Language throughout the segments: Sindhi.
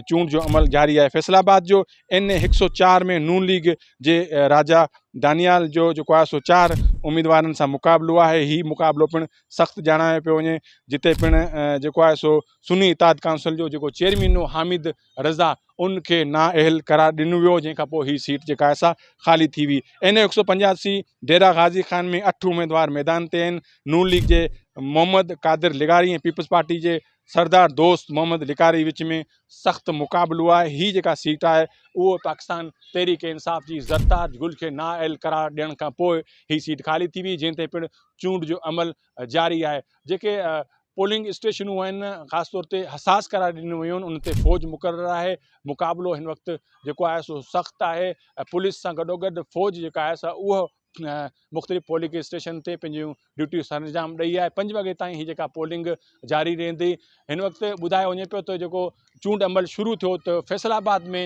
چونڊ جو عمل جاري آهي فيصل آباد جو اين اي هڪ سؤ چار ۾ نون ليگ جي راجا دانيال جو جيڪو آهي سو چار اميدوارن سان مقابلو آهي هي مقابلو پڻ سخت ڄاڻايو پيو وڃي جتي پڻ جيڪو آهي سو سني اتاد ڪائونسل جو جيڪو چيئرمين هو حامد رضا ان کي نااهل قرار ڏنو ويو جنهن کان پوء هي سيٽ جيڪا آهي سا خالي ٿي وئي اين اي هڪ سؤ پنجاسي ڊيرا غازي خان ۾ اٺ اميدوار ميدان تي آهن نون ليگ جي محمد قادر لغاري ۽ پيپلز پارٽي جي سردار دوست محمد لڪاري وچ ۾ سخت مقابلو آهي، هي جيڪا سيٽ آهي اهو پاڪستان تحريڪ انصاف جي زرتاج گل کي نااهل قرار ڏيڻ کان پوء هي سيٽ خالي ٿي وئي جنهن تي پڻ چونڊ جو عمل جاري آهي جيڪي پولنگ اسٽيشنون آهن خاص طور تي حساس قرار ڏنيون ويون ان تي فوج مقرر آهي مقابلو هن وقت جيڪو آهي سو سخت آهي پوليس سان گڏوگڏ فوج جيڪا آهي سا اهو مختلف پولنگ اسٽيشن تي پنهنجون ڊيوٽيون سر انجام ڏئي آهي پنج وڳي تائين هي جيڪا پولنگ جاري رهندي هن وقت ٻڌايو وڃي پيو ته جيڪو چونڊ عمل شروع ٿيو ته فيصل آباد ۾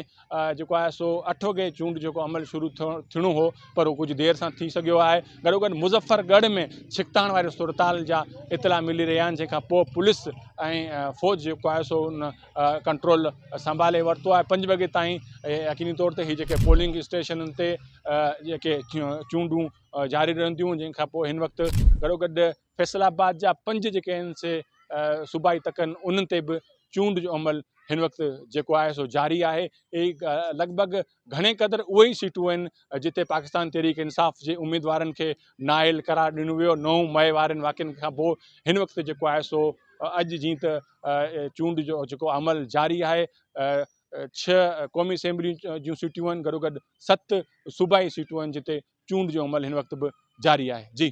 جيڪو آهي سو اٺ وڳي چونڊ جيڪو عمل شروع ٿيڻو هو پر هو ڪجهه دير سان ٿي سگهيو آهي گڏو گڏ مظفر ڳڙھ ۾ ڇڪتاڻ واري صورتحال جا اطلاع ملي رهيا آهن جنهن کان پوء پوليس ۽ فوج جيڪو آهي سو ان ڪنٽرول سنڀالي ورتو آهي پنج وڳي تائين يقيني طور تي هي جيڪي پولنگ اسٽيشنن تي جيڪي چونڊون جاري رهنديون جنهن کان پوء هن وقت گڏو گڏ فيصل آباد جا پنج جيڪي آهن سي صوبائي تڪ آهن انهن تي به چونڊ جو عمل هن وقت جيڪو آهي سو جاري آهي لڳ ڀڳ گهڻي قدر اهي ئي سيٽون آهن جتي پاڪستان تحريڪ انصاف جي اميدوارن کي نااهل قرار ڏنو ويو نو مئي وارن واقعن کان پوء هن وقت جيڪو آهي سو اڄ جيئن ته چونڊ جو جيڪو عمل جاري آهي ڇهه قومي اسيمبلي جون سيٽون آهن گڏوگڏ ست صوبائي سيٽون آهن جتي چونڊ جو عمل هن وقت به جاري آهي جي